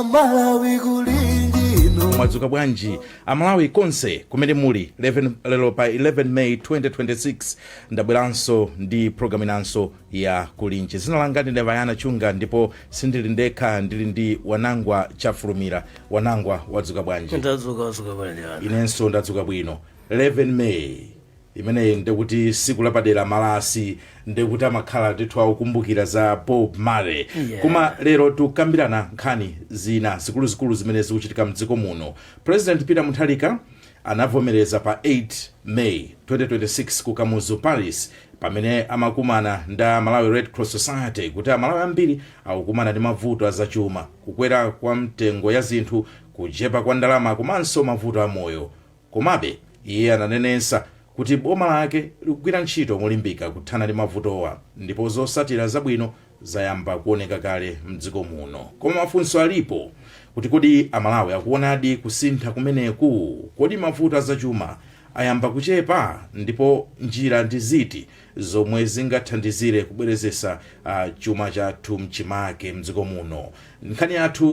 amalawi kulinji no mwadzuka bwanji amalawi konse kumene muli lero pa 11 may 2026 ndabweranso ndi programu inanso ya kulinji dzina langa ndine vayana chunga ndipo sindili ndekha ndili ndi wanangwa chafulumira wanangwa wadzuka bwanji ndadzuka wadzuka bwanji ana inenso ndadzuka bwino 11 may imeneyi ndi kuti siku lapadera ma rasi nde kuti amakhala ndithu akukumbukira za bob marley Yeah. koma lero tikambirana nkhani zina zikuluzikulu zimene zikuchitika mdziko muno president peter mutharika anavomereza pa 8 may 2026 ku kamuzu palace pamene amakumana ndi a malawi red cross society kuti amalawi ambiri akukumana ndi mavuto azachuma kukwera kwa mitengo ya zinthu kuchepa kwa ndalama komanso mavuto a moyo Komabe, iye ananenetsa kuti boma lake likugwira ntchito molimbika kuthana ndi mavutowa ndipo zotsatira zabwino zayamba kuoneka kale m'dziko muno. Koma mafunso alipo kuti kodi Amalawi akuonadi kusintha kumeneku? Kodi mavuto a zachuma ayamba kuchepa? Ndipo njira ndi ziti zomwe zingathandizire kubwezeretsa chuma chathu m'chimake m'dziko muno? Nkhani yathu.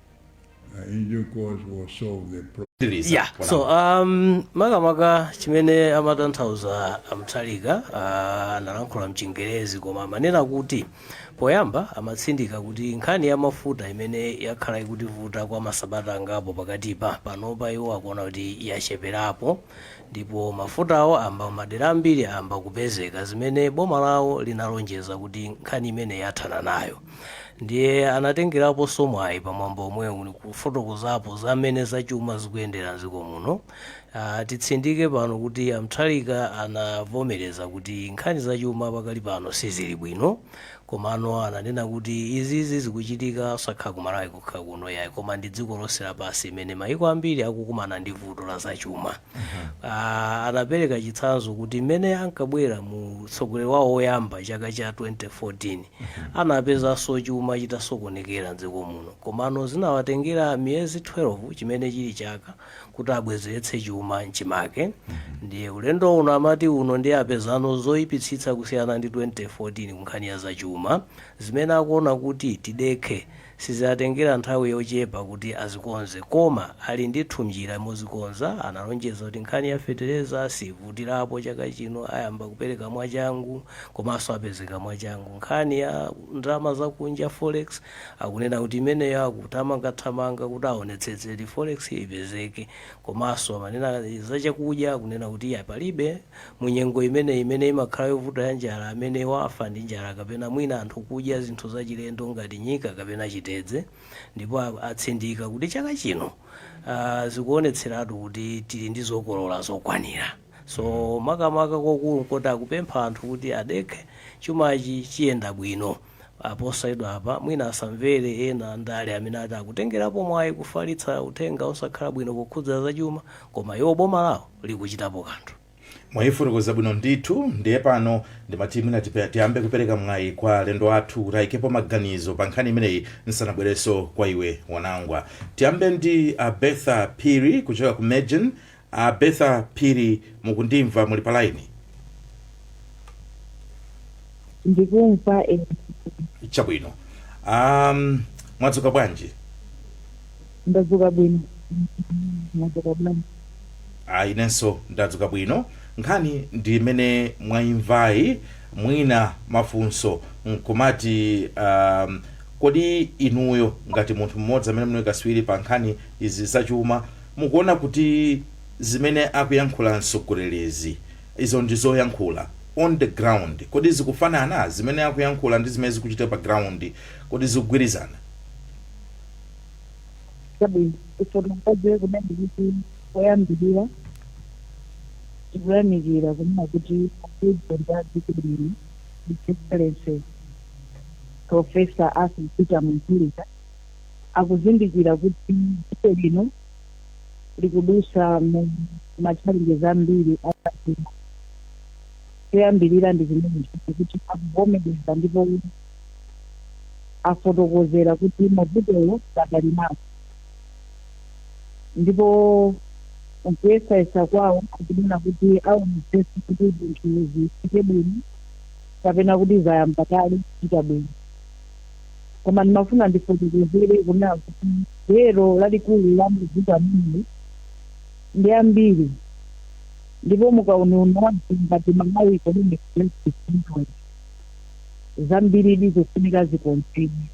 ya so um, makamaka chimene amatanthauza a mutharika uh, analankhula mchingerezi koma amanena kuti poyamba amatsindika kuti nkhani ya mafuta imene yakhala ikutivuta kwa masabata angapo pakatipa panopa iwo akuona kuti yacheperapo ndipo mafutawo ayamba madera ambiri ayamba kupezeka zimene boma lawo linalonjeza kuti nkhani imene yathana nayo ndiye anatengeraponso mwayi pa mwambo omwewu kufotokozapo za mmene zachuma zikuyendera m'dziko muno. Ah, titsindike pano kuti a Mutharika anavomereza kuti nkhani zachuma pakali pano sizili bwino komano ananena kuti izizi zikuchitika osakhala ku Malawi kokha kuno yayi koma ndi dziko lonse lapansi imene mayiko ambiri akukumana ndi vuto la zachuma. Ah, anapereka chitsanzo kuti mmene ankabwera mu utsogoleri wawo woyamba chaka cha 2014 Anapezanso chuma chitasokonekera m'dziko muno komano zinawatengera miyezi 12, chimene chili chaka, kuti abwezeretse chuma m'chimake ndiye ulendo uno amati uno ndiye apezanso zoipitsitsa kusiyana ndi 2014 kunkhani ya zachuma. Zimene akuona kuti tidekhe Siziwatengera nthawi yochepa kuti azikonze koma ali ndithu mnjira mozikonza, analonjeza kuti nkhani ya fetereza siivutilapo chaka chino ayamba kupereka mwachangu komanso apezeka mwachangu. Nkhani ya ndalama zakunja, forex, akunena kuti imeneyo akuthamangathamanga kuti aonetsetse kuti forex yo ipezeke komanso amanena zachakudya akunena kuti iyayi palibe. Mu nyengo imeneyi imene imakhala yovuta ya njala, amene wafa ndi njala kapena mwina anthu kudya zinthu zachilendo ngati nyika kapena chitedze, ndipo a, atsindika kuti chaka chino a, zikuonetseratu kuti tili ndi zokolola zokwanira. So makamaka kokulu nkoti akupempha anthu kuti adekhe, chumachi chiyenda bwino. a posachedwapa mwina asamvere ena a ndale amene ati akutengerapo mwayi kufalitsa uthenga osakhala bwino pokhudza zachuma, koma iwo boma lawo likuchitapo kanthu. Mwayifotokoza bwino ndithu ndiye pano ndimati mwina tipe- tiyambe kupereka mwayi kwa alendo athu kuti ayikepo maganizo pa nkhani imeneyi nsanabwerenso kwa iwe Wanangwa tiyambe ndi a Bertha Phiri kuchoka ku MEJN A Bertha Phiri mukundimva muli pa line? ndikumva ine Chabwino. Um, mwadzuka bwanji? Ndadzuka bwino, mwadzuka bwanji? Ah, inenso ndadzuka bwino. Nkhani ndi imene mwaimvayi mwina mafunso nkumati um, kodi inuyo ngati munthu mmodzi amene muli katswiri pa nkhani izi zachuma Mukuona kuti zimene akuyankhula mtsogolerizi, izo ndi zoyankhula, on the ground, kodi zikufanana? Zimene akuyankhula ndi zimene zikuchitika pa ground, kodi zikugwirizana? Chabwino. Tifotokoze kunena kuti poyambirira tikuyamikira kunena kuti a President a dziko lino, His Excellency Professor Arthur Peter Mutharika, akuzindikira kuti dziko lino likudutsa mu ma challenges ambiri a zachuma. Choyambirira ndi chimenecho kuti akuvomereza ndipo afotokozera kuti mavutowo adali nawo ndipo nkuyesayesa kwawo akunena kuti aonetsetse kuti zinthu zichite bwino kapena kuti zayamba kale kuchita bwino. Koma ndimafuna ndifotokozere kunena kuti gwero lalikulu la mavuto amenewa ndi ambiri ndipo mu kauniuni wathu ngati Malawi Economic Justice Network, zambiri ndi zofunika zikonzedwe.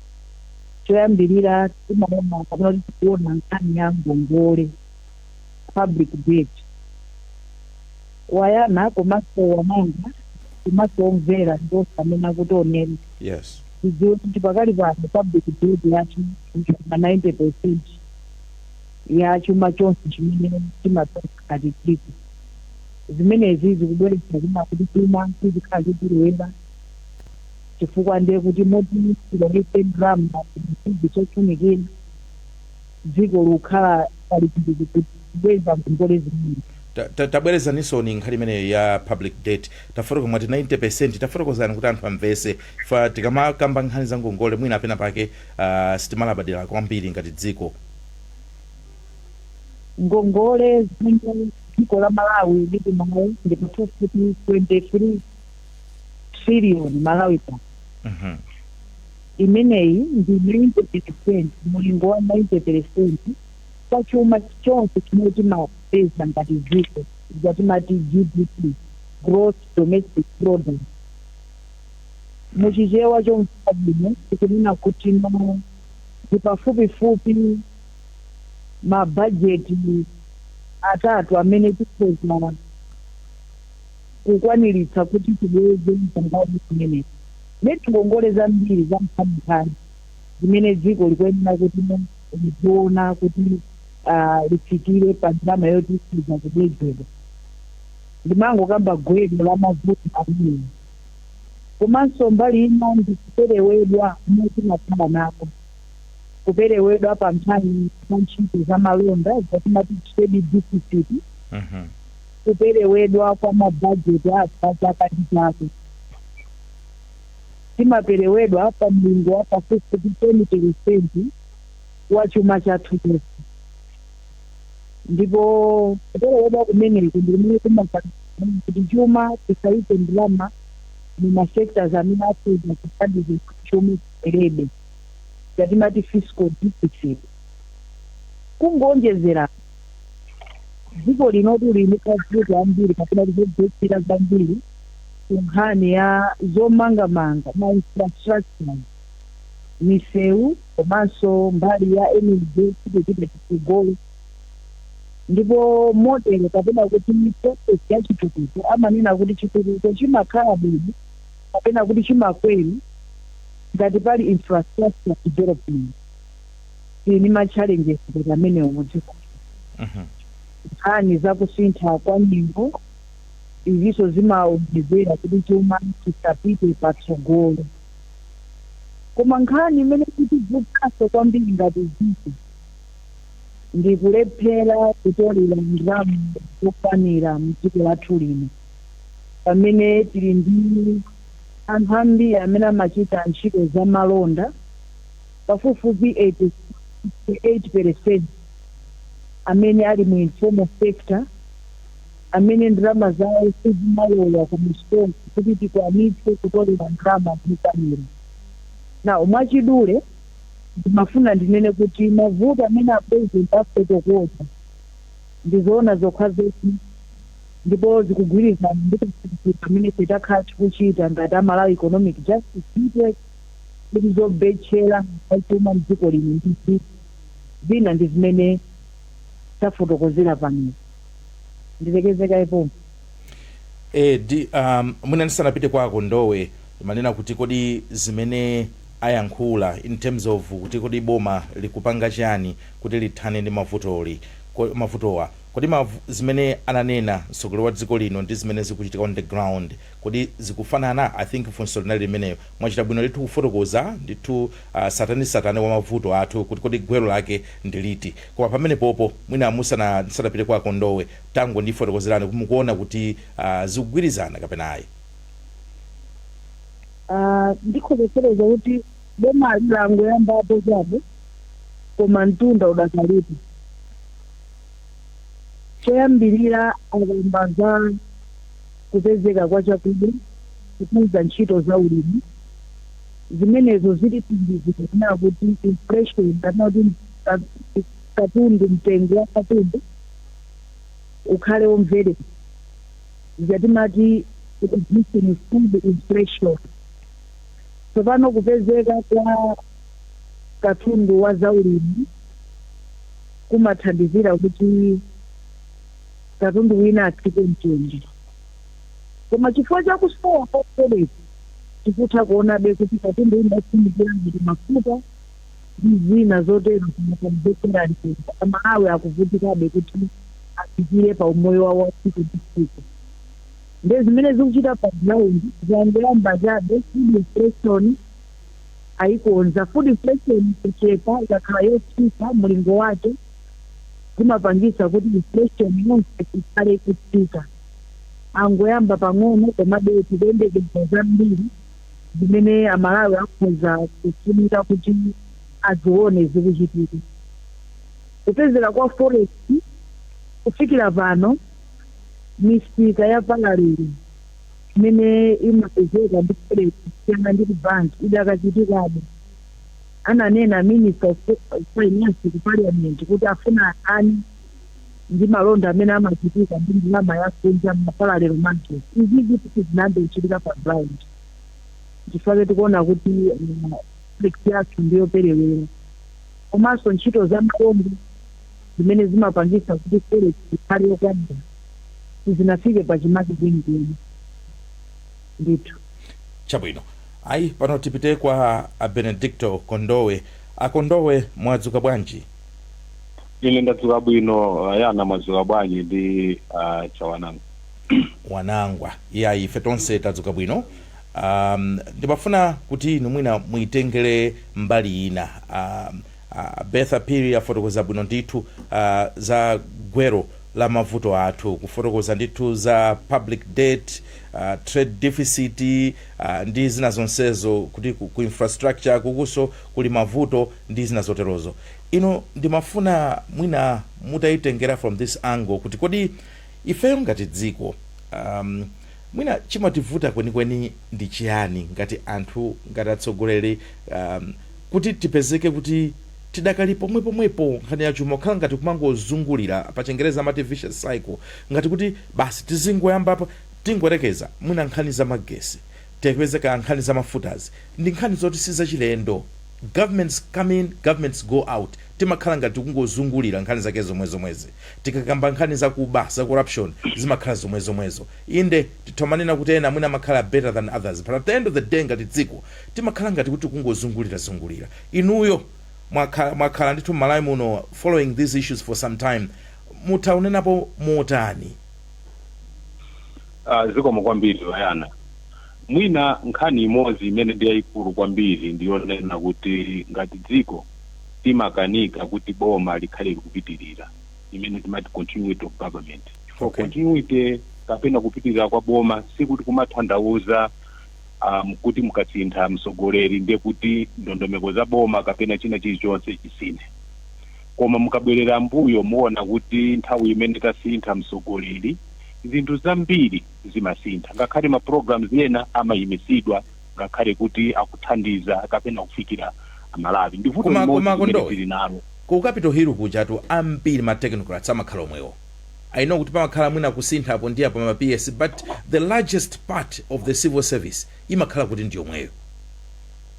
Choyambirira timaona kapena kuti tikuona nkhani ya ngongole, public debt. Wayana komanso Wanangwa komanso omvera ndi onse amene akutionera. Yes. tidziwe kuti pakali pano public debt yathu ili pa 90 percent ya chuma chonse chimene timapeza ngati dziko zimenezi zikubweretsa kunena kuti chuma chizikhala chochuluka chifukwa ndiye kuti moti tilowetse ndalama zinthu zofunikira dziko likukhala pa chipsinjo kubweza ngongole zimenezi. Ta- ta- tabwerezanisoni nkhani imeneyo ya public debt tafotokoza mwati 90 percent tafotokozani kuti anthu amvese ife tikamakamba nkhani za ngongole mwina apena pake uh, sitimalabadira kwambiri ngati dziko ngongole zimene dziko la malawi lili nayo ndi pafupifupi 23 trillion malawi pa Mhm. Imeneyi ndi 90 peresenti, mulingo wa 90 peresenti ya chuma chonse chimene timapeza ngati dziko, ija timati GDP, Gross Domestic Product. Mu Chichewa chomveka bwino tikunena kuti ma ndi pafupifupi ma bajeti atatu amene tikhoza. kukwaniritsa kuti tibweze ngongole zimenezi. Nde ndi ngongole zambiri za nkhaninkhani zimene dziko likuyenera kuti lidziona kuti litsitsire pa ndalama yoti ikhoza kubwezedwa. Ndimangokamba gwero la mavuto amenewa. Komanso mbali ina ndi kuperewedwa komwe timakhala nako. Kuperewedwa pa nkhani za ntchito za malonda zomwe timati trade deficit. Kuperewedwa kwa mabajeti athu a chaka ndi chaka timaperewedwa pa mlingo wa pafupifupi 10 peresenti wa chuma chathu chonse ndipo kuperewedwa kumeneku ndi kumene kumapangitsa kuti chuma tisaike ndalama mu ma sectors amene akhoza kuthandiza kuti chuma chikwerebe, ija timati fiscal deficit. Kungoonjezera apo. dziko linotu lili ndi ziphinjo zambiri kapena kuti zobetchera zambiri ku nkhani ya zomangamanga ma infrastructure misewu komanso mbali ya energy sitikupita chitsogolo ndipo model kapena kuti process ya chitukuko amanena kuti chitukuko chimakhala bwino kapena kuti chimakwera ngati pali infrastructure development tili ndi ma challenges ngati amenewo mu dziko Mhm. nkhani za kusintha kwa nyengo izinso zimaonjezera kuti chuma chisapite patsogolo koma nkhani imene ikutibvutanso kwambiri ngati dziko ndi kulephera kutolera ndalama zokwanira mdziko lathu lino pamene tili ndi anthu ambiri amene amachita ntchito za malonda Pafupifupi 86, 88 peresenti amene ali mu informal sector amene ndalama zawo sizimalowa ku misonkhano kuti tikwanitse kutolera ndalama zokwanira. Now, mwachidule ndimafuna ndinene kuti mavuto amene a president afotokoza ndi zoona zokhazokha ndipo zikugwirizana ndi kafukufuku amene ife takhala tikuchita ngati a Malawi Economic Justice Network. kuti zobetchera za chuma mdziko lino ndi ziti? Zina ndi zimene tafotokozera panozi. Ndilekeze kaye pompo. Eee di um, mwina ndisanapite kwa a Kondowe ndimanena kuti kodi zimene ayankhula in terms of kuti kodi boma likupanga chani kuti lithane ndi mavutoli ko, mavutowa kodi mavu, zimene ananena mtsogoleri wa dziko lino ndi zimene zikuchitika on the ground Kodi zikufanana? I think funso linali limenelo. Mwachita bwino ndithu kufotokoza ndithu uh tsatanetsatane wa mavuto athu kuti kodi gwero lake ndi liti. Koma pamenepopo mwina musana ndisanapite kwa a Kondowe tangondifotokozerani kuti mukuona kuti uh zikugwirizana kapena ayi. Uh ndikhoza kufotokoza kuti bomali langoyambapo chabe koma mtunda udakalipo. Choyambirira akamba za kupezeka kwa chakudya kukuza ntchito za ulimi. Zimenezo zitithandizira kunena kuti inflation kapena kuti katundu mtengo wa katundu ukhale womvereka. Zija timati reducing food inflation. Tsopano kupezeka kwa katundu wa za ulimi. kumathandizira kuti katundu wina atsike mtengo. Koma chifukwa cha kusowa kwa forex tikutha kuonabe kuti katundu wina ofunikira ngati mafuta ndi zina zotero zikukwerabe mtengo. Amalawi akuvutikabe kuti afikire pa umoyo wawo wa tsiku ndi tsiku. Ndiye zimene zikuchita pa ground zangoyamba chabe, food inflation, ayikonza. Food inflation kuchepa ikakhala yotsika mulingo wake zimapangisa kuti inflation yonse ikhale ikutsika. Angoyamba pang'ono komabe tikuyembekeza zambiri zimene Amalawi akhoza kufunika kuti azione zikuchitika. Kupezeka kwa forex kufikira pano misika ya parallel imene imapezeka ndi forex kusiyana ndi ku bank idakachitikabe, ananena Minister of Finance ku Parliament kuti afuna athane ndi malonda amene amachitika ndi ndalama ya kunja mma parallel market. Izizi sizinayambe kuchitika pa ground. Nchifukwa chake tikuona kuti forex yathu ndi yoperewera. Komanso ntchito za malonda zimene zimapangitsa kuti forex ikhale yokwanira. sizinafike pachimake kwenikweni ndithu. Chabwino. Ayi, pano tipite kwa a Benedicto Kondowe. A Kondowe, mwadzuka bwanji? Ine ndadzuka bwino, Ayana mwadzuka bwanji ndi Chawanangwa? Wanangwa, Iyayi, ife tonse tadzuka bwino. Um, ndimafuna kuti inu mwina muitengere mbali ina. Um, A Bertha Phiri afotokoza bwino ndithu za gwero la mavuto athu, kufotokoza ndithu za public debt, trade deficit ndi zina zonsezo kuti ku infrastructure ukunso kuli mavuto ndi zina zoterozo. Inu ndimafuna mwina mutaitengera from this angle kuti kodi ifeyo ngati dziko mwina chimativuta kwenikweni ndi chiyani ngati anthu, ngati atsogoleri. Kuti tipezeke kuti tidakali pomwepomwepo, nkhani ya chuma kukhala ngati kumangozungulira, pachingerezi amati vicious cycle, ngati kuti basi tizingoyamba apa, tingoyerekeza, mwina nkhani za magesi, tipeze kaya nkhani za mafutazi, ndi nkhani zoti si zachilendo, governments come in, governments go out, timakhala ngati tikungozungulira nkhani zake zomwezomwezi, tikakamba nkhani za kuba, za corruption, zimakhala zomwezomwezo, inde, titha kumanena kuti ena mwina amakhala better than others, but at the end of the day ngati dziko, timakhala ngati kuti tikungozungulira zungulira. Inuyo mwakhala ndithu m'Malawi muno following these issues for some time, mutha kunenapo motani? Ah, zikomo kwambiri Ayana. Mwina nkhani imodzi imene ndi yayikulu kwambiri ndi yonena kuti ngati dziko timakanika kuti boma likhale likupitirira, imene timati continuity of government. Chifukwa Okay. continuity kapena kupitirira kwa boma sikuti kumatanthauza um, kuti mukasintha mtsogoleri ndiye kuti ndondomeko za boma kapena china chilichonse chisinthe koma mukabwerera mbuyo muona kuti nthawi imene tasintha mtsogoleri zinthu zambiri zimasintha ngakhale ma programs ena amayimitsidwa ngakhale kuti akuthandiza kapena kufikira Amalawi ndi vuto Koma- limodzi koma limene Kondowe, tili nalo ku Capital Hill kujatu ambiri ma technocrats amakhala omwewo I know kuti pamakhala mwina kusintha apo ndi apo ma PS but the largest part of the civil service imakhala kuti ndi yomweyo.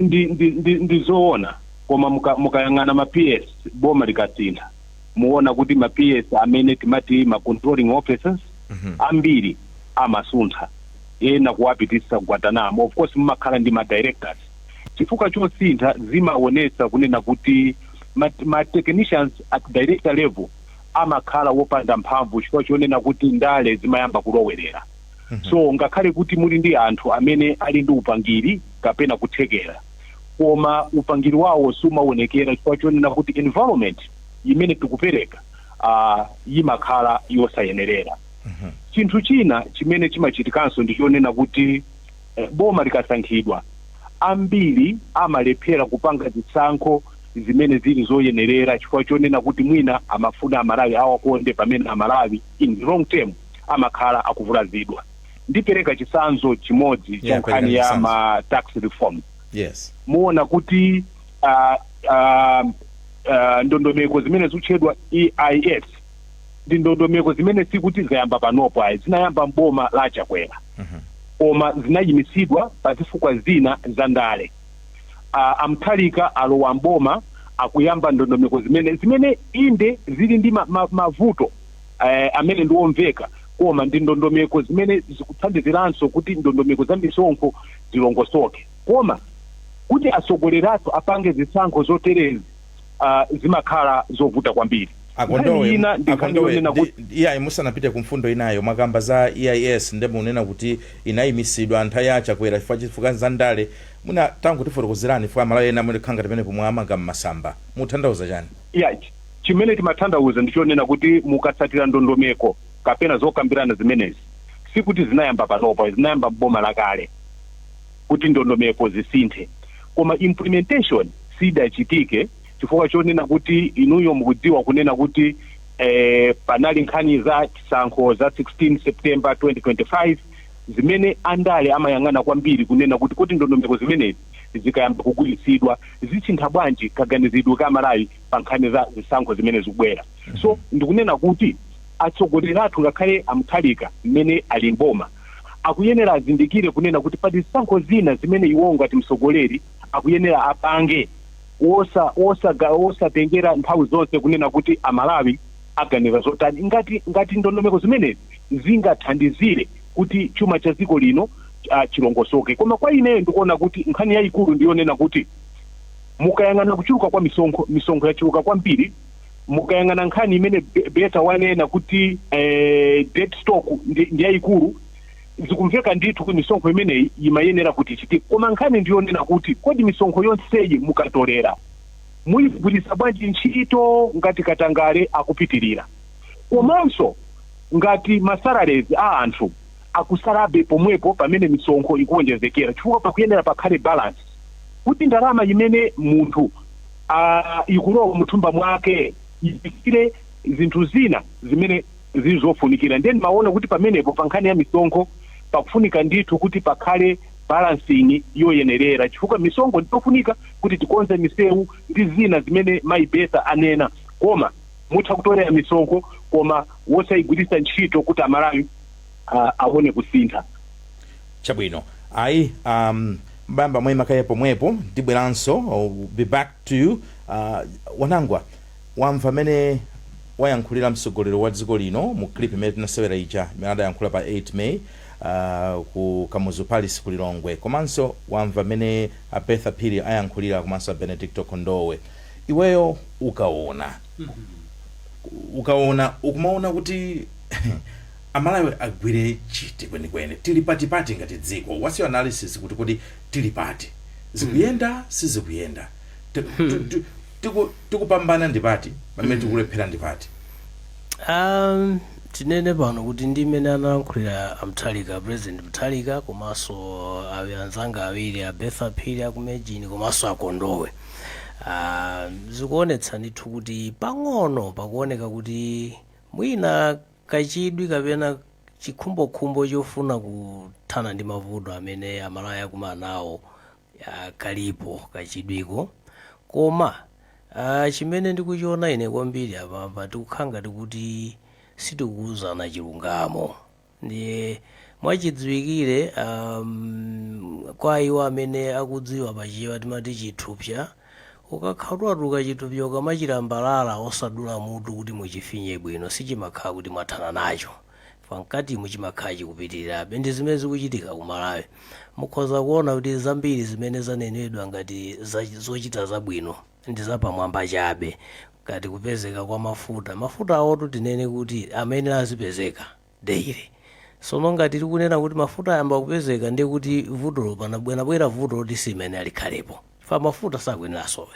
Ndi, ndi, ndi, ndi zoona koma muka, mukayang'ana ma PS boma likasintha muona kuti ma PS amene timati ma controlling officers ambiri amasunthidwa ena kuwapititsa ku Guantanamo of course mumakhala ndi ma directors chifukwa chosintha zimaonesa kunena kuti ma, ma technicians at director level amakhala wopanda mphamvu chifukwa chonena kuti ndale zimayamba kulowerera. So ngakhale kuti muli ndi anthu amene ali ndi upangiri kapena kuthekera, koma upangiri wawo siumaonekera chifukwa chonena kuti environment imene tikupereka ah, yimakhala yosayenerera. Chinthu china chimene chimachitikanso ndi chonena kuti Boma likasankhidwa, ambiri amalephera kupanga zisankho zimene zili zoyenerera chifukwa chonena kuti mwina amafuna Amalawi awakonde pamene Amalawi in the long term amakhala akuvulazidwa. Ndipereka chitsanzo chimodzi cha Yeah, nkhani perekani ya chitsanzo. ma tax reform. Yes. Muona kuti ah, ah, ah, ndondomeko zimene zikutchedwa EIS ndi ndondomeko zimene sikuti zayamba panopo ayi zinayamba m'boma la a Chakwera koma zinayimitsidwa pa zifukwa zina za ndale a, a Mutharika alowa m'boma akuyamba ndondomeko zimene zimene inde zili ndi ma, ma, mavuto eh, amene ndi omveka koma ndi ndondomeko zimene zikuthandiziranso kuti ndondomeko za misonkho zilongosoke koma kuti atsogoleri athu apange zisankho zoterezi uh, zimakhala zovuta kwambiri akondowe Nkhani ina ndi nkhani akondowe yonena ndi- kuti ndi- iyayi, musanapite ku mfundo inayo mwakamba za EIS ndiye mukunena kuti inayimitsidwa nthawi ya Chakwera chifukwa zifukwa za ndale muna tangotifotokozerani chifukwa Amalawi ena amene khanga pamene pomwe amanga mmasamba mukutanthauza chani ya ch- chimene timatanthauza ndi chonena kuti mukatsatira ndondomeko kapena zokambirana zimenezi sikuti zinayamba panopa zinayamba m'boma lakale kuti ndondomeko zisinthe koma implementation sidachitike chifukwa chonena kuti inuyo mukudziwa kunena kuti eh, panali nkhani za chisankho za 16 September 2025 zimene andale amayang'ana kwambiri kunena kuti kodi ndondomeko zimenezi zikayamba kugwiritsidwa zisintha bwanji kaganizidwe ka Amalawi pa nkhani za zisankho zimene zikubwera so ndikunena kuti atsogoleri athu ngakhale a Mutharika mmene ali m'boma akuyenera azindikire kunena kuti pali zisankho zina zimene iwowo ngati mtsogoleri akuyenera apange wosa wosa ga wosatengera nthawi zonse kunena kuti a Malawi aganiza zotani ngati ngati ndondomeko zimenezi zingathandizire kuti chuma cha dziko lino ah, chilongosoke koma kwa ineyo ndikuona kuti nkhani yayikulu ndiyonena kuti mukayang'ana kuchuluka kwa misonkho misonkho yachuluka kwambiri mukayang'ana nkhani imene Be- Bertha wanena kuti eh, debt stock ndi ndi yayikulu zikumveka ndithu kuti misonkho imeneyi imayenera kuti ichitike koma nkhani ndiyonena kuti kodi misonkho yonseyi mukatolera muyigwiritsa bwanji ntchito ngati katangale akupitirira komanso ngati masalarezi a anthu akusalabe pomwepo pamene misonkho ikuwonjezekera chifukwa pakuyenera pakhale balance kuti ndalama imene munthu aa ikulowa muthumba mwake ifikire zinthu zina zimene zili zofunikira ndiye ndimaona kuti pamenepo pa nkhani ya misonkho pakufunika ndithu kuti pakhale balancing yoyenerera chifukwa misonkho ndiyofunika kuti tikonze misewu ndi zina zimene mayi Bertha anena koma mutha kutolera misonkho koma wosayigwiritsa ntchito kuti amalawi ah, aone kusintha Chabwino, ayi, a, m'bamba muima kaye pomwepo, ndibweranso, be back to you. A, Wanangwa, wamva mmene wayankhulira mtsogoleri wa dziko lino mu clip imene tinasewera ija, imene adayankhula pa 8 May, a, ku Kamuzu Palace ku Lilongwe, komanso wamva mmene a Bertha Phiri ayankhulira komanso a Benedicto Kondowe. Iweyo ukaona, ukaona, ukumaona kuti. Amalawi agwire chiti kwenikweni? Tili patipati ngati dziko? Whats your analysis kuti kodi tili pati? Zikuyenda? Sizikuyenda? Tiku tikupambana ndipati pamene tikulephera ndipati? Um, tinene pano kuti ndi mmene analankhulira a Mutharika, President Mutharika komanso awi anzanga awiri a Bertha Phiri aku MEJN komanso a Kondowe. Uh, zikuonetsa ndithu kuti pang'ono pakuoneka kuti mwina Kachidwi kapena chikhumbokhumbo chofuna kuthana ndi mavuto amene Amalawi akumana nawo kalipo kachidwiko koma chimene ndikuchiona ine kwambiri apapa tikukhala ngati kuti sitikuuzana chilungamo ndiye mwachidziwikire kwa iwo amene akudziwa pa Chichewa timati chithupsa Ukakhala kuti watuluka chithupsa ukamachilambalala osadula mutu kuti muchifinye bwino sichimakhala kuti mwathana nacho chifukwa mkatimu chimakhala chikupitirirabe. Ndi zimene zikuchitika ku Malawi. Mukhoza kuona kuti zambiri zimene zanenedwa ngati zochita zabwino ndi zapamwamba chabe ngati kupezeka kwa mafuta. Mafutawotu tinene kuti amayenera azipezeka. daily sono ngati tikunena kuti mafuta ayamba kupezeka ndiye kuti vutolo panabwera vuto loti simene likhalepo chifukwa mafuta sakuyenera asowe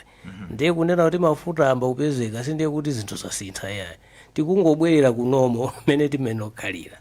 ndiye kunena kuti mafuta ayamba kupezeka sindiye kuti zinthu zasintha yayi tikungobwerera ku normal mmene timenera kukhalira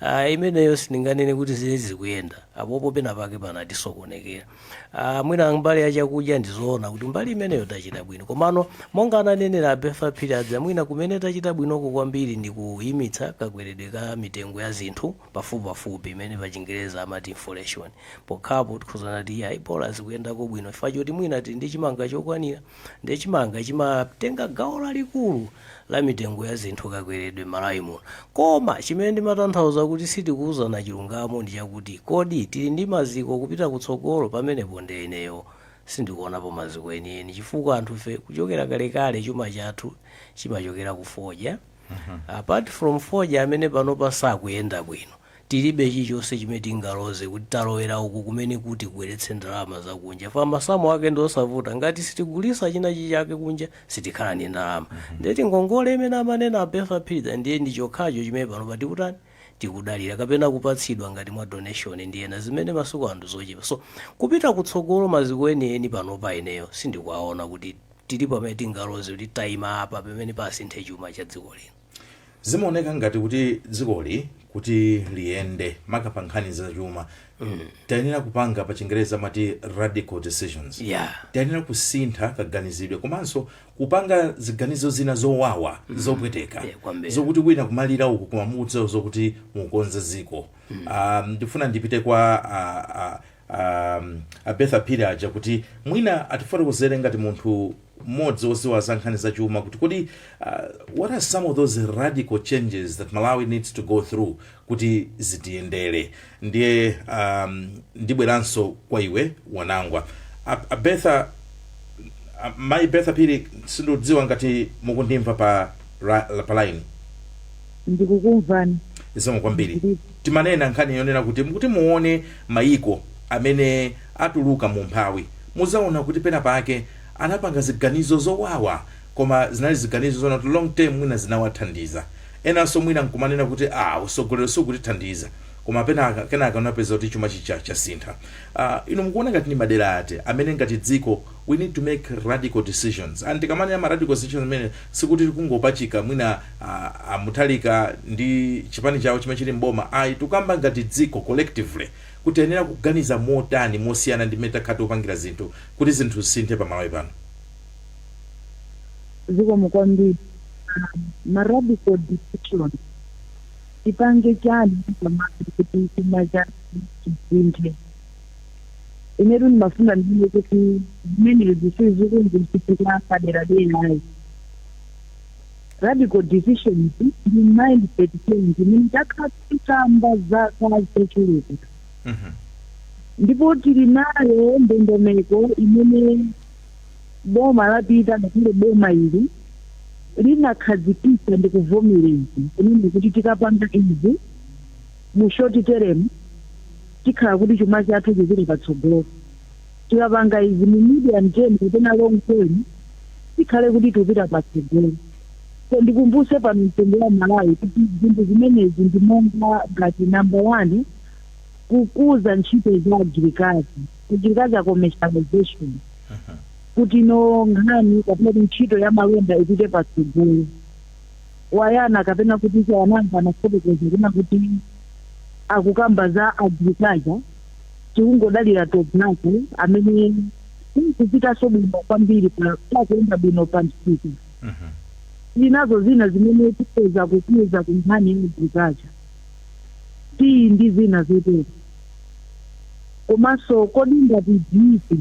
Ah, imeneyo sindinganene kuti zile zikuyenda apopo pena pake panatisokonekera Ah, mwina mbali ya chakudya ndizoona kuti mbali imeneyo tachita bwino komano monga ananenera a Bertha Phiri aja mwina kumene tachita bwinoko kwambiri ndi kuyimitsa kakweredwe ka mitengo ya zinthu pafupipafupi imene pachingereza amati inflation pokhapo tikuuzana kuti ayi bola zikuyendako bwino chifukwa choti mwina tili ndi chimanga chokwanira ndiye chimanga chimatenga gawo lalikulu la mitengo ya zinthu kakweredwe malawi muno koma chimene ndimatanthauza kuti sitikuwuzana chilungamo ndi chakuti kodi tili ndi maziko kupita kutsogolo pamenepo nde ineyo sindikuonapo maziko enieni chifukwa anthu ife kuchokera kalekale chuma chathu chimachokera ku fodya apart from fodya amene panopa sakuyenda bwino Tilibe chilichonse chimene tingaloze kuti talowera uku kumene kuti kubweretse ndalama za kunja chifukwa masamu ake ndi osavuta. Ngati sitigulitsa china chake kunja sitikhala ndi ndalama. Ndiye tingongole imene amanena a Bertha Phiri aja ndiye ndi chokhacho chimene panopa tikutani, tikudalira kapena kupatsidwa ngati mwa donation ndi ena zimene masiku ano ndi zochepa. So, kupita kutsogolo maziko enieni panopa ineyo sindikuwaona kuti tili pamene tingaloze kuti taima apa pamene pasinthe chuma cha dziko lino. zimaoneka ngati kuti dzikoli kuti liyende maka pa nkhani zachuma tayenera kupanga pa chingereza amati radical decisions Yeah. tayenera kusintha kaganizidwe komanso kupanga ziganizo zina zowawa zopweteka Yeah, kwambiri. zokuti wina kumalira uku koma mukudziwa zokuti mukonze dziko Ah, ndifuna ndipite kwa ah, ah, um, a Bertha Phiri aja kuti mwina atifotokozere ngati munthu mmodzi wodziwa za nkhani za chuma kuti kodi uh, what are some of those radical changes that malawi needs to go through kuti zitiyendere ndiye um, ndibweranso kwa iwe wanangwa a, a Bertha a, mayi Bertha Phiri sindikudziwa ngati mukundimva pa, ra- la- pa line ndikukumvani zikomo kwambiri Ndiri- Timanena nkhani yonena kuti kuti muone mayiko amene atuluka mu umphawi, mudzaona kuti pena pake anapanga ziganizo zowawa koma zinali ziganizo zonena kuti long term mwina zinawathandiza. Enanso mwina n'kumanena kuti aah utsogoleri sukutithandiza koma pena kenaka unapeza kuti chuma chija chasintha. Aah inu mukuona ngati ndi madera ati amene ngati dziko we need to make radical decisions and tikamanena ma radical decisions amene sikuti tikungopachika mwina ah, a Mutharika ndi chipani chawo chimene chili m'boma ayi tikukamba ngati dziko collectively kuti tiyenera kuganiza motani mosiyana ndi mmene takhala tikupangira zinthu kuti zinthu zisinthe pa Malawi pano zikomo kwambiri ma radical decision tipange chani pamati kuti chuma chathu chisinthe inetu ndimafuna ndiye kuti zimenezi sizikundichitika padera ayi radical decisions ndi mindset change imene takhala tikamba zaka zochuluka Mhm. ndipo tili nayo ndondomeko imene boma lapita ngakhale boma ili linakhazikitsa ndi kuvomereza kunena kuti tikapanga izi mu short term tikhala kuti chuma chathu chipite patsogolo. Tikapanga izi mu medium term kapena long term tikhale kuti tipita patsogolo. So ndikumbuse pano mtundu wa Malawi kuti zinthu zimenezi ndi monga ngati number one kukuza ntchito za agirikazi, agriculture commercialization kuti no nkhani kapena kuti ntchito ya malonda ipite patsogolo. Wayiona kapena kuti a Wananga anafotokoza kunena kuti akukamba za agriculture tikungodalira tobacco amene akupitaso bwino kwambiri pa pakuyenda bwino pa msika zinazo zina zimene tipeza kukuza ku nkhani ya agriculture tiyi ndi zina zotero komanso kodi ngati dziko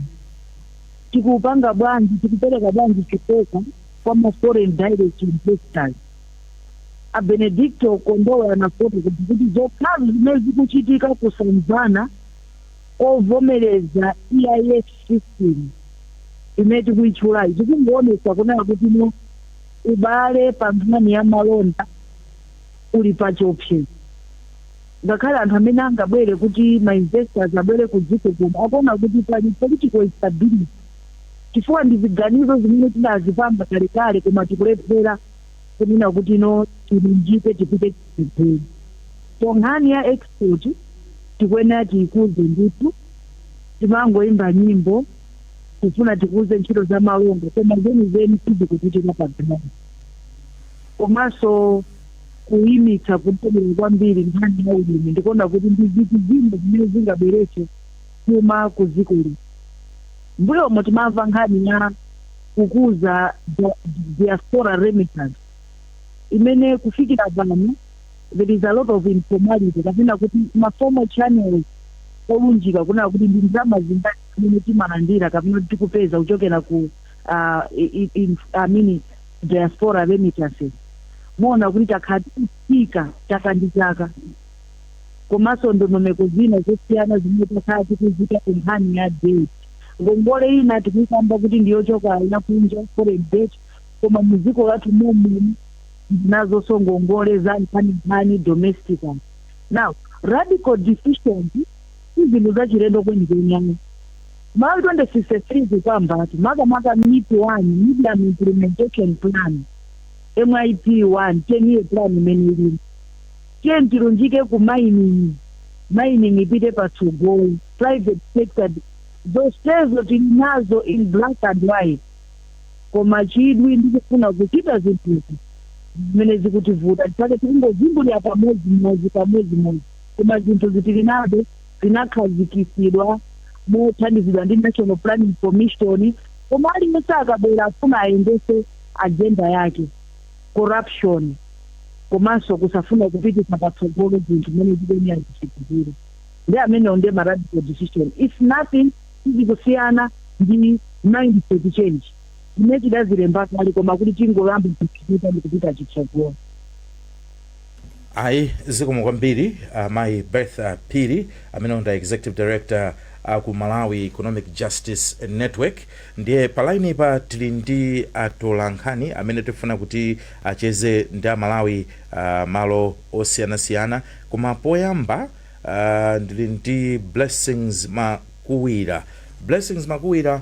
tikupanga bwanji tikupereka bwanji chikoka kwa ma foreign direct investors. A Benedicto Kondowe anafotokoza kuti zokhazi zimene zikuchitika kusamvana kovomereza EIS system imene tikuyitchulayi zikungoonetsa kunena kuti no ubale pa nkhani ya malonda uli pa chiopsezo. Ngakhale anthu amene angabwere kuti ma investors abwere ku dziko kuno akuona kuti pali political instability. chifukwa ndi ziganizo zimene tidazipanga kalekale koma tikulephera kunena kuti no tilunjike tipite chitsogolo. So nkhani ya export tikuyenera tiikuze ndithu timangoimba nyimbo tifuna tikuze ntchito za malonda koma zenizeni sizikuchitika pa ground. Komanso kuyimitsa kupenyera kwambiri nkhani ya ulimi ndikuona kuti ndi zinthu zina zimene zingabweretse chuma ku dziko lino. M'mbuyomu timamva nkhani ya kukuza diaspora remittance imene kufikira pano there is a lot of informality kapena kuti maformal channels olunjika kunena kuti ndi ndalama zingati zimene timalandira kapena kuti tikupeza kuchokera ku uh, i- i- I mean, diaspora remittances muona kuti takhala tikutsika chaka ndi chaka komanso ndondomeko zina zosiyana zimene takhala tikuziika ku nkhani ya debt. Ngongole ina tikuikamba kuti ndi yochoka ina kunja, foreign debt, koma mu dziko lathu mom'muno tili nazonso ngongole za nkhaninkhani, domestically. Now, radical decisions si zinthu zachilendo kwenikweni ayi. Malawi 2063 ikukambatu makamaka MIP 1, Medium Implementation Plan, MIP 1, 10 year plan imene ilimo. Tiyeni tilunjike ku mining, mining ipite patsogolo, private sector zonsezo tili nazo in black and white koma chidwi ndi kufuna kuchita zinthuzi ndi zimene zikutivuta chifukwa chake tikungozungulira pamodzimodzi pamodzimodzi koma zinthuzi tili nazo zinakhazikisidwa mothandizidwa ndi National Planning Commission koma aliyense akabwera afuna ayendese agenda yake. corruption, komanso kusafuna kupititsa patsogolo zinthu mmene zikuyenera zichitikire. Ndiye amenewo ndiye ma radical decision. It's nothing, sizikusiyana ndi mindset change zimene tidazilemba kale koma kuti tingoyamba kuzichita ndikupita chitsogolo. Ayi zikomo kwambiri uh, mayi Bertha Phiri amenewo ndi executive director aku uh, Malawi Economic Justice Network. Ndiye pa line pa tili ndi atolankhani amene tifuna kuti acheze ndi amalawi uh, malo osiyanasiyana, koma poyamba uh, ndili ndi Blessings Makuwira. Blessings Makuwira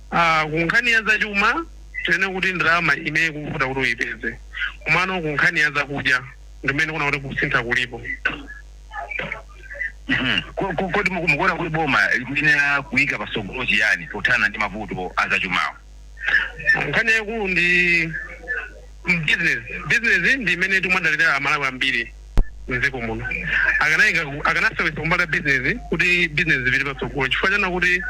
a Ku nkhani ya zachuma tinene kuti ndalama imene ikuvuta kuti uyipeze komano ku nkhani ya zakudya ndimene ndikuona kuti kusintha kulipo. Mhm. Ko- ko- Kodi muku- mukuona kuti boma likuyenera kuyika patsogolo chiyani pothana ndi mavuto a zachumawo? Nkhani yaikulu ndi Business business ndi imene timadalira amalawi ambiri mdziko muno. Akanaika akanasewesa kumbali ya business kuti business zipite patsogolo chifukwa chonena kuti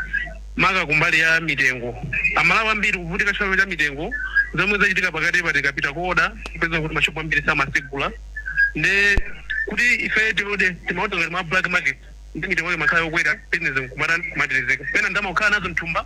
maka kumbali ya mitengo amalawi ambiri kuvutika chifukwa cha mitengo zomwe zachitika pakatipa tikapita ku order kupeza kuti mashop ambiri samasegula nde kuti ife tiode timaoda ngati mwa black market nde mitengo imakhala yokwera business nkumatani kumatirizika pena ndalama kukhala nazo mthumba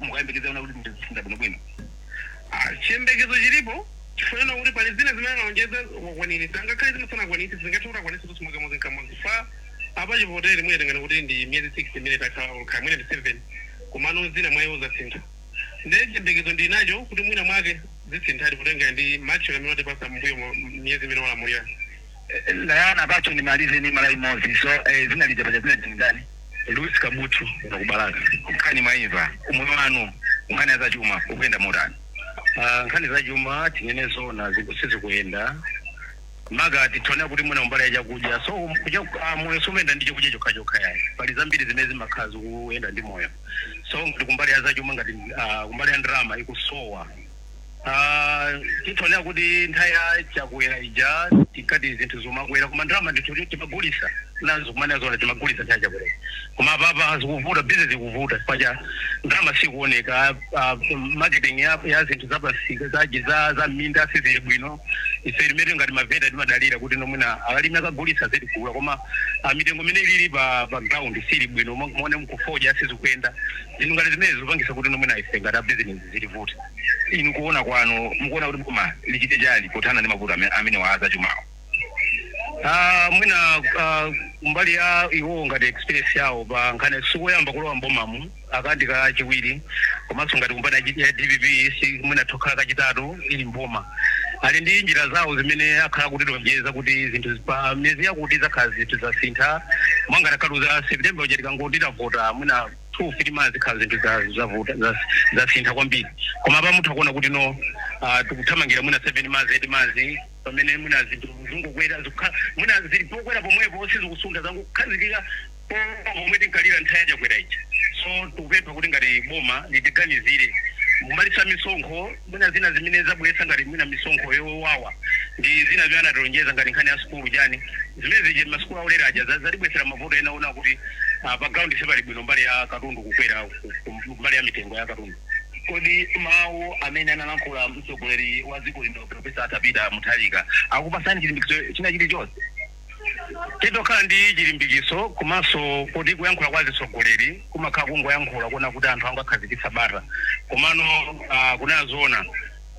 mukuyembekezera kuti zinthu ziyenda bwino bwino Ah, chiyembekezo chilipo chifukwa chonena kuti pali zina zimene analonjeza wakwaniritsa ngakhale zina sanakwanitse zingathe kuti akwanitse kuti si mwakamodzi nkamodzi chifukwa apa chivotere mwina tinganene kuti ndi miyezi 6 imene takhala olukha mwina ndi 7 komano zina mwa iwo zasintha nde chiyembekezo ndinacho kuti mwina mwake zisinthadi kutengera ndi match amene watipasa mbuyomu miyezi imene walamulira Tayamba bwanji ndimalize ndi mulaimodzi so eh, dzina lija paja dzina ndani Louis Kabuthu kuno ku Balaka nkhani mwaimva umoyo wanu nkhani ya zachuma ukuyenda motani Ah, nkhani za chuma tinene zona ziku- sizikuyenda maka titaona kuti mwina mbali ya chakudya so um, kuja ah, moyo sumayenda ndi chakudya chokha chokha yayi pali zambiri zimene zimakhala zikuyenda ndi moyo so ngati kumbali ya zachuma ngati ah, kumbali ya ndalama ikusowa Ah, titaonera kuti nthawi ya Chakwera ija tikati zinthu zumakwera koma ndalama ndithu kuti timagulisa nazo kumana zona timagulisa nthawi ya Chakwera koma apapa zikuvuta bizinesi ikuvuta paja ndalama sikuoneka ah, marketing ya, ya zinthu zapamsika zaji za za minda sizili bwino ife timene ngati mavenda timadalira kuti no mwina alimi akagulisa adzitigula koma ah, mitengo imene ilili pa pa ground sili bwino mo- muone mkufodya sizikuyenda zinthu ngati zimene zikupangisa kuti no mwina ife ngati abizinesi zizitivuta. Inu kuona kwanu mukuona kuti boma lichite chani pothana ndi mavuto ame, amenewa a zachumawa? Ah, mwina ah, kumbali ya iwowo ngati experience yawo pa nkhani sikoyamba kulowa m'bomamu aka ndi kachiwiri komanso ngati kumbali ya G- ya dpp si mwina tokhala kachitatu ili mboma ali ndi njira zawo zimene akhala kutilonjeza kuti zinthu zi- pa miyezi yakuti zakhala zinthu zasintha mwangati akaluza september uja tikangoti tavota mwina 2 months zikhala zinthu za zavuta za zasintha kwambiri koma apa mutha kuona kuti no uh, tikuthamangira mwina 7 months 8 months pamene mwina zinthu zingokwera zikukhala mwina zili pokwera pomwepo sizikusuntha zangokhazikika pomwe tinkalira nthawi ya Chakwera ija so tikupempha kuti ngati boma litiganizire mu malitsa misonkho Mwina zina zimene zabweretsa ngati mwina misonkho yowawa ndi zina zimene anatilonjeza ngati nkhani ya sukulu chani zimene zija masukulu aulere aja za zatibweretsera mavuto ena ona kuti ah, pa ground sipali bwino mbali ya katundu kukwera ku- ku- mbali ya mitengo ya katundu Kodi mawu amene analankhula mtsogoleri wa dziko lino Profesa Arthur Peter Mutharika akupasani chilimbikitso china chilichonse? Titokhala ndi chilimbikitso komanso koti kuyankhula kwa azitsogoleri kumakhala kungoyankhula kuona kuti anthu angoakhazikitsa bata komano uh, kunena zoona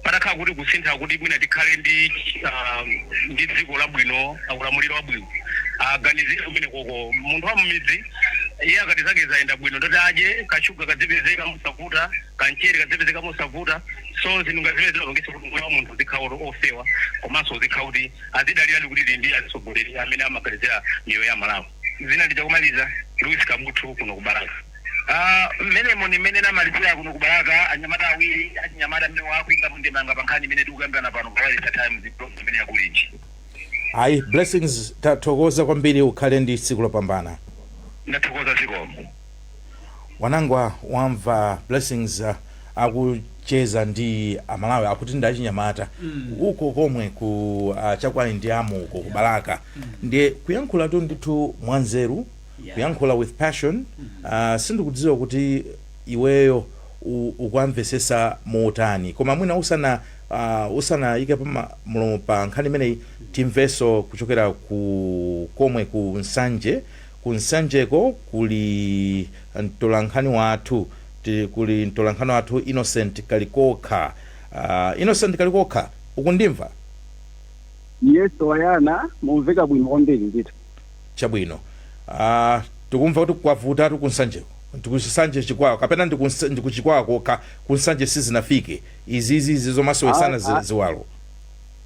patakhala kuti kusintha kuti mwina tikhale ndi uh, ndi dziko labwino ulamuliro wabwino aganizire uh, kumene koko munthu wa mmidzi iye akati zake zayenda bwino ndi oti adye kashuga kadzipezeka mosavuta kamchere kadzipezeka mosavuta so zinthu ngazimene zimapangisa kuti moyo wa munthu uzikhala ofewa komanso uzikhala kuti azidalira kuti tili ndi atsogoleri amene amaganizira miyoyo ya amalawi dzina lija komaliza louis kabuthu kuno ku balaka Ah, mmenemo ni mmene tinamalizira kuno ku balaka anyamata awiri achinyamata amene akuikapo ndemanga pa nkhani imene tikukambirana pano pa wireless times program imene ya Kulinji ayi blessings tathokoza kwambiri mukhale ndi tsiku lopambana ndathokoza zikomo Wanangwa wamva Blessings akucheza ndi a Malawi akuti ndi achinyamata uko komwe ku ah, chakwanu ndi amuuko ku Balaka ndiye kuyankhulatu ndithu mwanzeru Yeah. kuyankhula with passion ah, sindikudziwa kuti iweyo u- ukuwamvesesa motani koma mwina usana uh, usanayikepo mlomo pa nkhani imeneyi timveso kuchokera uko komwe ku Nsanje Ku Nsanjeko kuli mtolankhani wathu tili kuli mtolankhani wathu Innocent Kalikokha. Uh, Innocent Kalikokha, ukundimva? Yes, Wayana, mukumveka bwino kwambiri ndithu. Chabwino. Uh, tikumva kuti kwavutatu ku Nsanjeko. Ndi ku Nsanje Chikwawa, kapena ndi ku Nsa- ndi ku Chikwawa kokha, ku Nsanje sizinafike. Izizi izi zomasowesana Ayi, zi- ayi. ziwalo.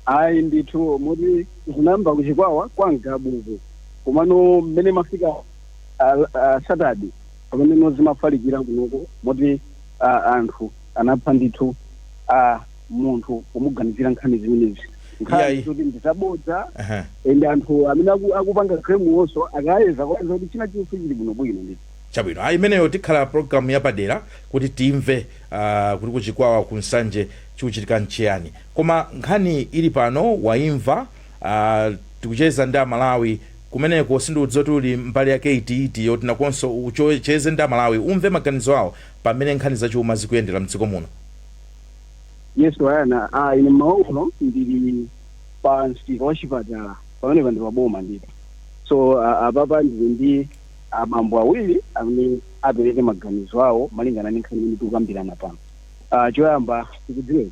Ayi ndithu moti zinayamba ku Chikwawa kwa Ngabu uku komano mmene imafika Satadi pameneno zimafalikira kunoko moti anthu anapha ndithu munthu pomuganizira nkhani zimenezi. Nkhani zoti ndi zabodza and anthu amene akupanga claim-wonso akayeza akupeza kuti china chilichonse chili bwinobwino ndithu. Chabwino ayi imeneyo tikhala program yapadera kuti timve kuti ku Chikwawa ku Nsanje chikuchitika nchiyani. Koma nkhani ili pano waimva aah tikucheza ndi a Malawi kumeneko sindikudziwa kuti uli mbali yake iti iti yoti nakonso ucheze ndi a Malawi umve maganizo awo pa mmene nkhani za chuma zikuyendera mdziko muno. Yes Wayana aah ine mmawa uno ndili pa msika wa chipatala pamenepa ndi pa boma ndithu so aah apapa ndili ndi abambo awiri amene apereke maganizo awo malingana ndi nkhani imene tikukambirana pano. Ah, choyamba tikudziwe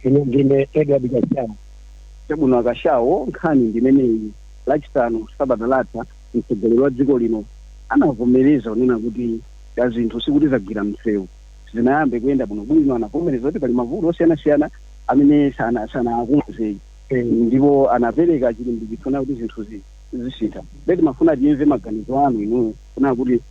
ine ndine Edward Kashawo chabwino a Kashawo nkhani ndimeneyi lachisanu sabata latha mtsogoleri wa dziko lino anavomereza kunena kuti zinthu sikuti zagwira msewu zayamba kuyenda bwinobwino anavomereza kuti pali mavuto osiyanasiyana amene sana- sanawakonze Eh, ndipo anapereka chilimbikitso kunena kuti zinthu zi- zisintha nde timafuna timve maganizo anu inuyo kunena kuti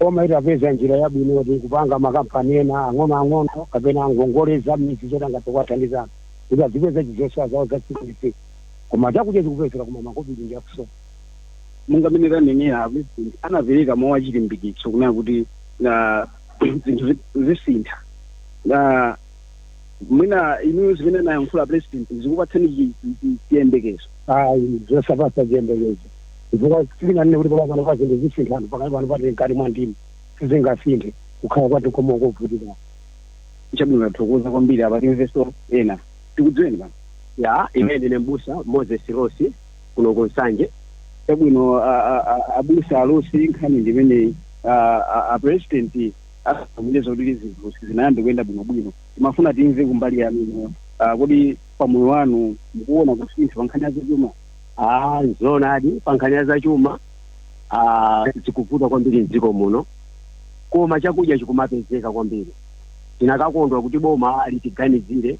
Boma litapeza njira yabwino yoti kupanga makampani ena ang'onoang'ono kapena angongole za m'midzi zoti angathe kuwathandiza anthu kuti adzipeza zosowa zawo za tsiku ndi tsiku. Koma chakudya chikupezeka koma makobiri ndi akusowa. Monga mmene tanenera, a Pulezidenti anapereka mawu achilimbikitso kunena kuti zinthu zisintha. mwina inuyo zimene anayankhula a president zikupatseni chi- chi- chi- chiyembekezo ayi zosapasa chiyembekezo chifukwa sindinganene kuti pakali pano pa zinthu zisintha anthu pakali pano pati mkati mwa ndimi sizingasinthe kukhala kwati koma kovutika chabwino tathokoza kwambiri apa timveso ena tikudziweni pano ya ine ndine mbusa moses rosi kuno ku nsanje chabwino a- a- a- abusa a rosi nkhani ndimeneyi a- a- a president atsimikiza zoti zinthu zinayamba kuyenda bwinobwino timafuna timve kumbali yanu inuyo Ah, kodi pa moyo wanu mukuona kusintha pa nkhani ya zachuma Ah, zoonadi pa nkhani ya zachuma ah, zikuvuta kwambiri mdziko muno koma chakudya chikumapezeka kwambiri tinakakondwa kuti boma litiganizire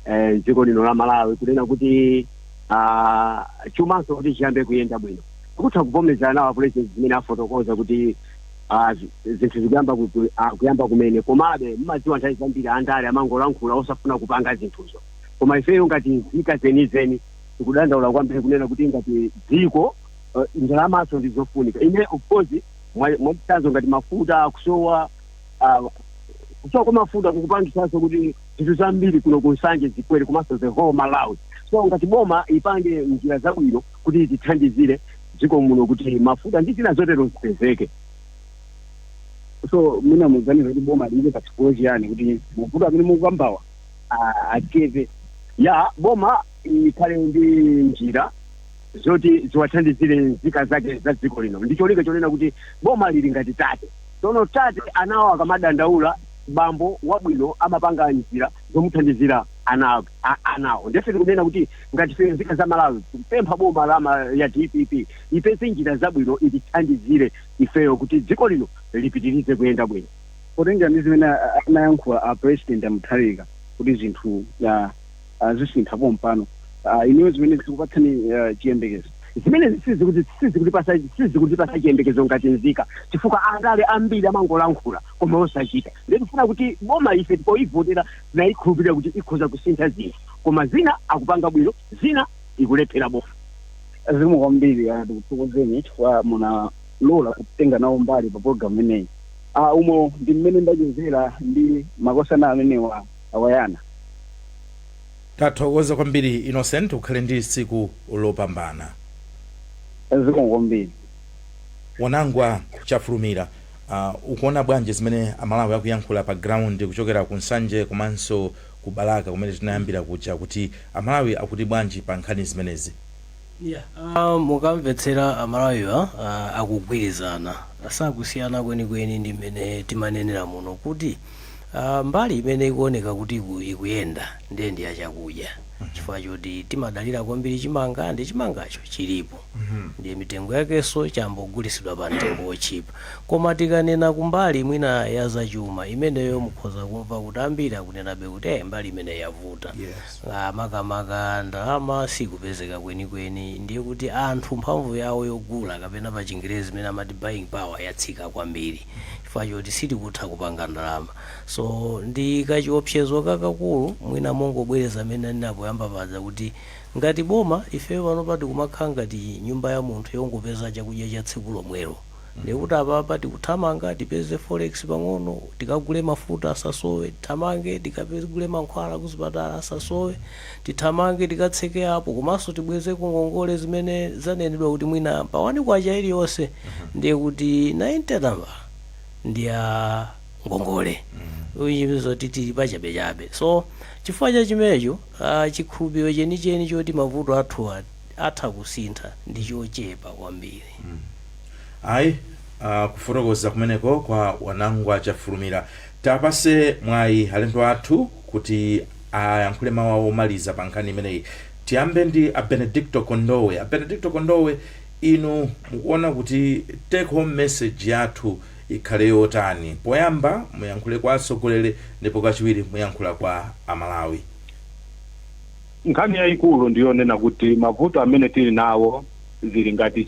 eh, dziko lino la malawi kunena kuti ah, chumanso kuti chiyambe kuyenda bwino tikutha kuvomerezana nawo apulezidenti zimene afotokoza kuti ah, zi- zinthu zikuyamba ku- ku- ah, kuyamba kumene komabe mumadziwa nthawi zambiri andale amangolankhula osafuna kupanga zinthuzo koma ifeyo ngati nzika zenizeni tikudandaula kwambiri kunena kuti ngati dziko eh, ndalamaso ndi zofunika ine of course mwa- mwachitsanzo ngati mafuta akusowa ah, kusowa kwa mafuta kukupangisanso kuti zinthu zambiri kuno kunsanje zikwere komanso the whole malawi so ngati boma lipange njira zabwino kuti itithandizire dziko muno kuti mafuta ndi zina zotero zipezeke so mwina muganiza kuti boma liike patsogolo chiyani kuti mavuto amene mukukambawa a- achepe ya boma ikhale ndi njira zoti ziwathandizire nzika zake za dziko lino ndi cholinga chonena kuti boma lili ngati tate tsono tate ana akamadandaula bambo wabwino amapanga njira zomuthandizira ana a- anawo nde ife tikunena kuti ngati ife nzika za malawi tikupempha boma la ma- ya dpp ipeze njira zabwino itithandizire ifeyo kuti dziko lino lipitirize kuyenda bwino potengera ndi zimene a- a- anayankhula a president amutharika kuti zinthu ah, ah, zisintha pompano Ah, inuyo zimenezi zikupatsani ah, chiyembekezo zimenezi sizikutipasa sizikutipasa chiyembekezo ngati nzika chifukwa andale ambiri amangolankhula koma osachita nde tikufuna kuti boma ife poivotera tinaikhulupirira kuti ikhoza kusintha zinthu koma zina akupanga bwino zina ikulephera boma zikomo kwambiri ah, tikuthokozeni chifukwa munalola kutenga nawo mbali pa program imeneyi ah, umo ndi mmene ndachezera ndi makosana amenewa awayana tathokoza kwambiri innocent ukhale ndi tsiku lopambana zikomo kwambiri wanangwa chafulumira Uh ukuona bwanji zimene a Malawi akuyankhula pa ground kuchokera ku Nsanje komanso ku Balaka kumene tinayambira kuja kuti a Malawi akuti bwanji pa nkhani zimenezi? Yeah uh mukamvetsera a Malawiwa uh akugwirizana sakusiyana kwenikweni ndi mmene timanenera muno kuti uh mbali imene ikuoneka kuti iku, ikuyenda ndiye ndi ya chakudya chifukwa choti timadalira kwambiri chimanga ndi chimangacho chilipo. ndiye mitengo yakenso chayamba kugulitsidwa pa mtengo otchipa. Koma tikanena kumbali mwina ya za chuma, imeneyo mukhoza kumva kuti ambiri akunenabe kuti eh mbali imeneyi yavuta. Yes. Ah, makamaka ndalama sikupezeka kwenikweni ndiye kuti anthu mphamvu yawo yogula kapena pa chingerezi imene amati buying power yatsika kwambiri chifukwa choti sitikutha kupanga ndalama so ndi kachiopsezo kakakulu mwina mongobwereza mmene ndinanenera poyamba paja kuti Ngati boma, ifeyo panopa tikumakhala ngati nyumba ya munthu yongopeza chakudya cha tsiku lomwelo. Ndiye kuti apapa tikuthamanga tipeze forex pang'ono, tikagule mafuta asasowe, tithamange tikagule mankhwala kuzipatala asasowe, tithamange tikatseke apo komanso tibwezeko ngongole zimene zanenedwa kuti mwina pa one kwacha iliyonse ndiye kuti 90 tambala ndi ya ngongole which means zoti tili pachabechabe. So, chifukwa cha chimenecho. chikhulupiriro chenicheni choti mavuto athu atha kusintha ndi chochepa kwambiri. Ayi, kufotokoza kumeneko kwa Wanangwa Chafulumira. Tiwapatse mwayi alendo athu kuti ayankhule mawu awo omaliza pa nkhani imeneyi. Tiyambe ndi a Benedicto Kondowe. A Benedicto Kondowe, inu mukuona kuti take home message yathu ikhale yotani? Poyamba muyankhule kwa atsogoleri ndipo kachiwiri muyankhula kwa a Malawi. Nkhani yaikulu ndi yonena kuti mavuto amene tili nawo zili ngati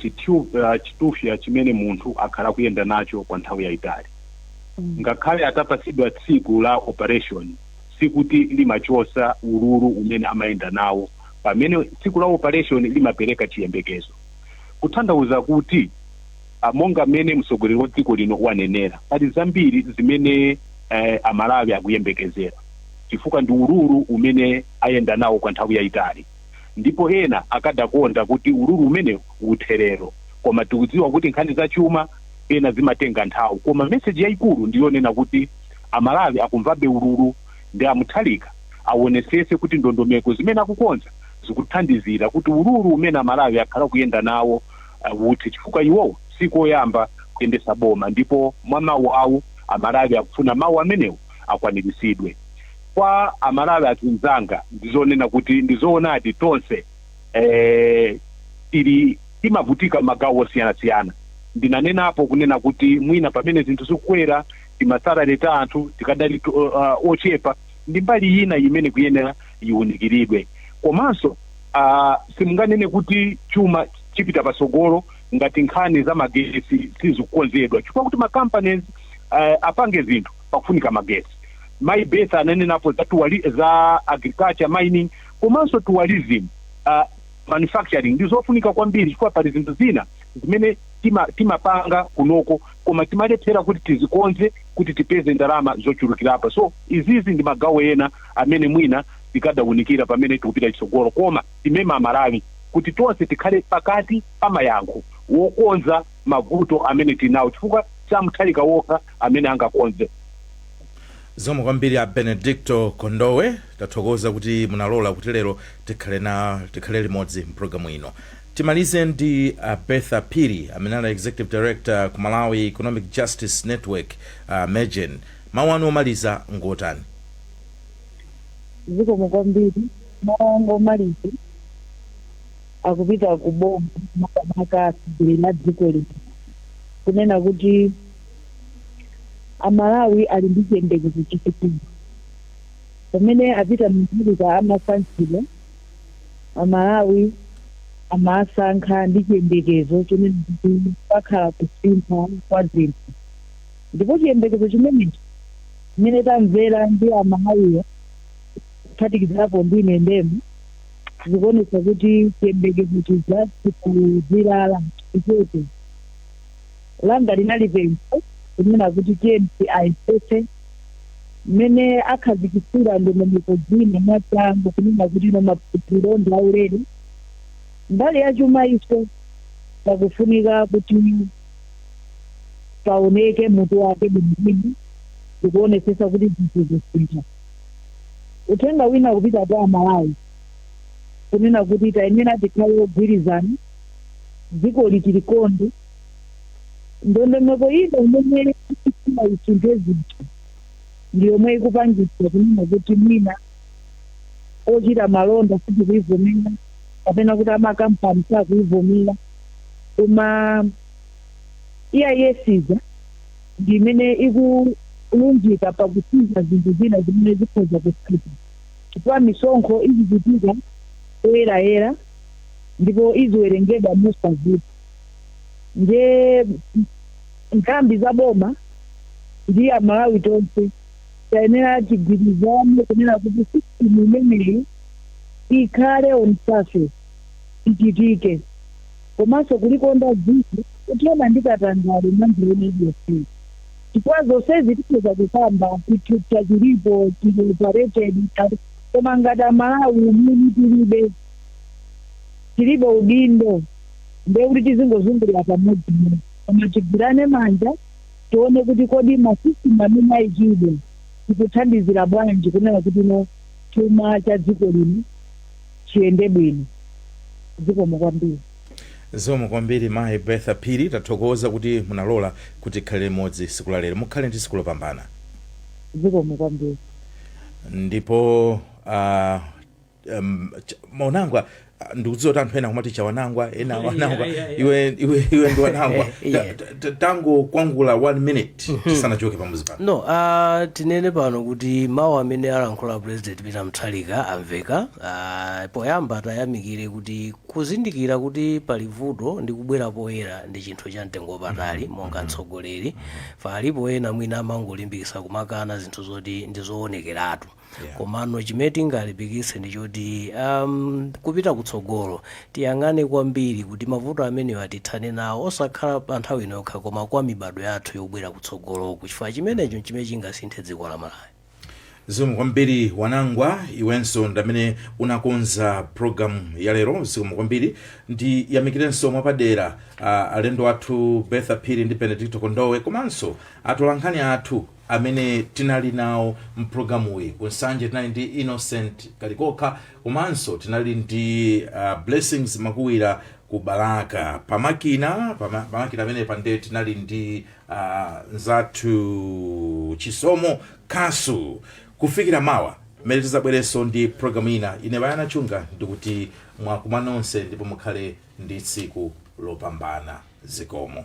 chitufya chimene munthu akhala akuyenda nacho kwa nthawi yaitali. Ngakhale atapatsidwa tsiku la operation sikuti limachotsa ululu umene amayenda nawo pamene tsiku la operation limapereka chiyembekezo. Kuthandauza kuti. monga mmene mtsogoleri wa dziko lino wanenera, pali zambiri zimene a Malawi akuyembekezera chifukwa ndi ululu umene ayenda nawo kwa nthawi yaitali ndipo ena akadakonda kuti ululu umenewu uthe lero koma tikudziwa kuti nkhani za chuma pena zimatenga nthawi koma message yaikulu ndi yonena kuti a Malawi akumvabe ululu nde a Mutharika awonetsetse kuti ndondomeko zimene akukonza zikuthandizira kuti ululu umene a Malawi akhala akuyenda nawo uthe chifukwa iwowo sikoyamba kuyendesa boma ndipo mwa mau awo amalawi akufuna mau amenewo akwanilisidwe. Kwa amalawi azinzanga ndizonena kuti ndizoonadi tonse eeh tili timavutika magawo osiyana siyana ndinanenapo kunena kuti mwina pamene zinthu zikukwera timasalary ta anthu tikadali ochepa ndimbali ina imene ikuyenera iunikiridwe komanso a simunganene kuti chuma chipita patsogolo ngati nkhani za magetsi sizikukonzedwa chifukwa kuti macompanies uh, apange zinthu pakufunika magetsi mai Bertha ananenapo za, tuwali, za agriculture mining komanso tourism uh, manufacturing ndi zofunika kwambiri chifukwa pali zinthu zina zimene tima- timapanga kunoko koma timalephera kuti tizikonze kuti tipeze ndalama zochulukirapo so izizi ndi magawo ena amene mwina tikadaunikira pamene tikupita chitsogolo koma timema amalawi kuti tonse tikhale pakati pa mayankho wokonza mavuto amene tili nawo chifukwa si a mutharika wokha amene angakonze zikomo kwambiri a benedicto kondowe tathokoza kuti munalola kuti lero tikhale na tikhale limodzi mpulogalamu ino timalize ndi a bertha piri amene ali executive director ku malawi economic justice network uh, MEJN Mawu anu omaliza ngotani? Zikomo kwambiri. Mawu anga omaliza akupita ku boma makamaka atsogoleri a dziko lino kunena kuti Amalawi ali ndi chiyembekezo chachikulu. Pamene a Peter Mutharika amasankhidwa, Amalawi amasankha ndi chiyembekezo chonena kuti pakhala kusintha kwa zinthu. Ndipo chiyembekezo chimenechi, chimene tamvera ndi a Malawiwa kuphatikizapo ndi ine ndemwe, zikuonetsa kuti chiyembekezo chija sichikuzilala. Chotero langa linali pempho kunena kuti tiyeni ayesetse mmene akhazikitsira ndondomeko zina mwachangu kunena kuti no maphunziro ndi aulere. Mbali ya chuma iyo pakufunika kuti. paoneke mutu wake bwinobwino ndikuonesesa kuti zinthu zisintha uthenga wina kupita kwa amalawi kunena kuti tayenera tikhale ogwirizana dzikoli tilikonde ndondomeko ino imene ikufuna isinthe zinthu ndi yomwe ikupangitsa kunena kuti mwina ochita malonda sitikuivomera kapena kuti amakampani sakuivomera koma EIS ija ndi imene ikulunjika pa kusinza zinthu zina zimene zikhoza kusintha chifukwa misonkho izichitika poyerayera ndipo iziwerengedwa mosavuta. Ndiye nthambi za boma ndi Amalawi tonse tayenera tigwirizane kunena kuti system imeneyi ikhale on surface. lichitike komanso kulikonda dziko kuthana ndi katangale mwa njira ina iliyonse chifukwa zonsezi tikhoza kukamba chithutha chilipo chili operated koma ngati amalawi umwini tilibe tilibe udindo ndiye kuti tizingozungulira pamodzimodzi koma tigwirane manja tione kuti kodi ma system amene ayikidwa tikuthandizira bwanji kunena kuti no chuma cha dziko lino chiyende bwino. Zikomo kwambiri. Zikomo kwambiri mayi Bertha Phiri. Tathokoza kuti munalola kuti tikhale limodzi tsiku la lero. Mukhale ndi tsiku lopambana. Zikomo kwambiri. ndipo ah, em, ch- maunangwa ah, ndikudziwa kuti anthu ena kumati chawanangwa ena wanangwa Yeah, yeah, yeah. iwe iwe iwe ndi wanangwa Yeah. Ta- ta- Ta- tangokwangulani one minute tisanachoke pamuzi pano no uh, tinene pano kuti mawu amene alankhula president peter mutharika amveka uh, poyamba tiyamikire kuti kuzindikira kuti pali vuto ndi kubwera poyera ndi chinthu cha mtengo wapatali monga mtsogoleri palipo ena mwina amangolimbikira kumakana zinthu zoti ndi zoonekeratu Yeah. komano chimene tingalimbikitse ndi choti um, kupita kutsogolo tiyang'ane kwambiri kuti mavuto amenewa tithane nawo osakhala pa nthawi ino yokha koma kwa mibadwo yathu yobwera kutsogoloku chifukwa chimenecho chimene chingasinthe dziko la malawi zikomo kwambiri wanangwa iwenso ndi amene unakonza programu ya lero zikomo kwambiri ndiyamikirenso mwapadera uh, alendo athu betha phiri ndi benedicto kondowe komanso atolankhani athu amene tinali nawo mprogramuyi ku nsanje tinali ndi innocent kalikoka komanso tinali ndi uh, blessings makuwira ku balaka pamakina pama- pamakina ameni pande tinali ndi uh, nzathu chisomo kasu kufikira mawa mmene tizabwerenso ndi programu ina ine bayana chunga ndikuti mwakumana nonse ndipo mukhale ndi tsiku lopambana zikomo